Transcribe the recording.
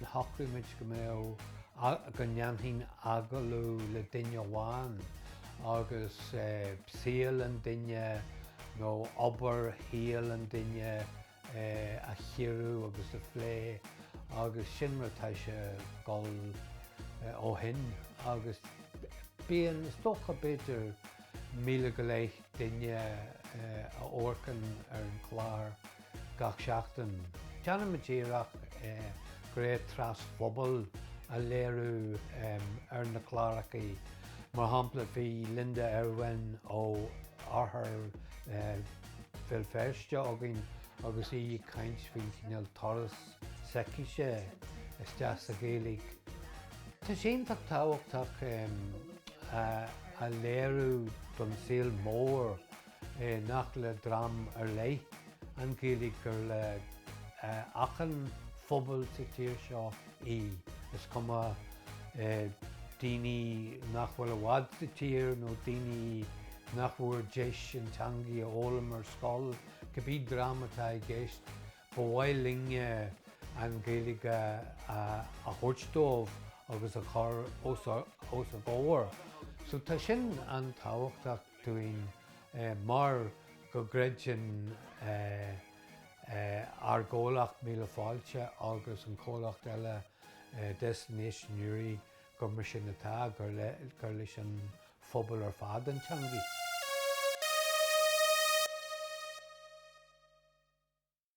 Shocraigh muid go mbeadh, go ndéanfainn agallamh le duine amháin agus saol an duine nó obair shaol an duine a chíoradh agus a phlé agus sin mar atá sé ag dul ó shin agus bíonn, is dócha, b'fhéidir míle go leith duine ag amharc ann ar an gclár. Gach seachtain, déanaimid iarracht go raibh trasphobal a léiriú ar na cláracha. Mar shampla, bhí Linda Ervine ó Oirthear Bhéal Feirste againn agus í ag caint faoin chineál turas s'aici sé isteach sa Ghaeilge. Tá sé iontach tábhachtach a léiriú don tsaol mór nach le dream ar leith an Ghaeilge gur le achan phobal sa tír seo í, is cuma daoine nach bhfuil i bhfad sa tír nó daoine nach bhfuair deis an teangaidh a fhoghlaim ar scoil, cibé dream atá i gceist, ba mhaith linne an Ghaeilge a thabhairt dóibh agus a chur os a gcomhair. So tá sin an-tábhachtach. dúinn mar go gcreideann ár gcomhlacht Míle Fáilte agus an comhlacht eile Destination Newry gur mar sin atá, gur leis an phobal ar fad an teangaidh.